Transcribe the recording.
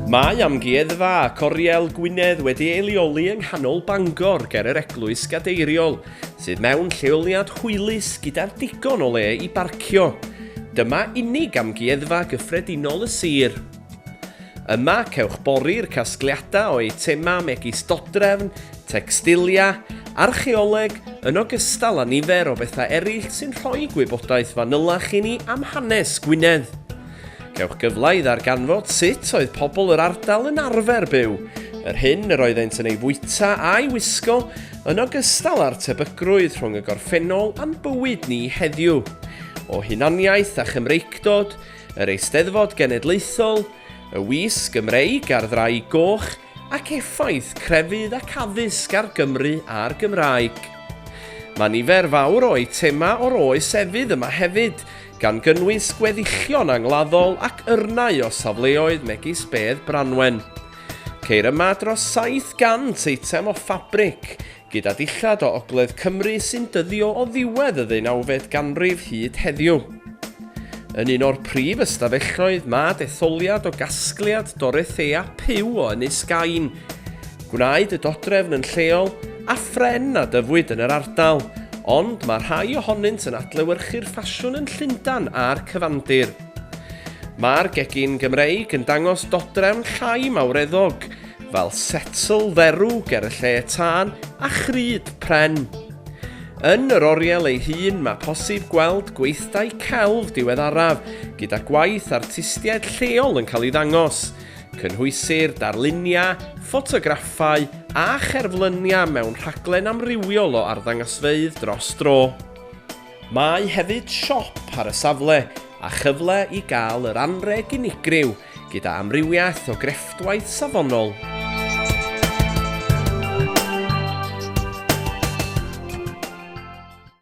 Mae amgueddfa ac oriel Gwynedd wedi ei leoli yng nghanol Bangor ger yr eglwys gadeiriol, sydd mewn lleoliad hwylus gyda'r digon o le i barcio. Dyma unig amgueddfa gyffredinol y sir. Yma cewch bori'r casgliadau o eitemau megis dodrefn, tecstilia, archeoleg, yn ogystal â nifer o bethau eraill sy'n rhoi gwybodaeth fanylach i ni am hanes Gwynedd. Cewch gyfle i ddarganfod sut oedd pobl yr ardal yn arfer byw, yr hyn yr oeddent yn ei fwyta a'i wisgo, yn ogystal â'r tebygrwydd rhwng y gorffennol a'n bywyd ni heddiw. O hunaniaeth a Chymreictod, yr Eisteddfod Genedlaethol, y Wis Gymreig a'r Ddraig Goch, ac effaith crefydd ac addysg ar Gymru a'r Gymraeg. Mae nifer fawr o eitemau o'r oes efydd yma hefyd, gan gynnwys gweddillion angladdol ac yrnau o safleoedd megis bedd Branwen. Ceir yma dros 700 eitem o ffabric, gyda dillad o ogledd Cymru sy'n dyddio o ddiwedd y ddeunawfed ganrif hyd heddiw. Yn un o'r prif ystafelloedd mae detholiad o gasgliad Dorothea Pugh o Ynys Gain. Gwnaed y dodrefn yn lleol a phren a dyfwyd yn yr ardal, ond mae rhai ohonynt yn adlewyrchu'r ffasiwn yn Llundain a'r cyfandir. Mae'r gegin Gymreig yn dangos dodrefn llai mawreddog, fel setl dderw ger y lle tân a chrud pren. Yn yr oriel ei hun mae posib gweld gweithdai celf diweddaraf gyda gwaith artistiaid lleol yn cael ei ddangos. Cynhwysir darluniau, ffotograffau a cherfluniau mewn rhaglen amrywiol o arddangasfeydd dros dro. Mae hefyd siop ar y safle a chyfle i gael yr anrheg unigryw gyda amrywiaeth o grefftwaith safonol.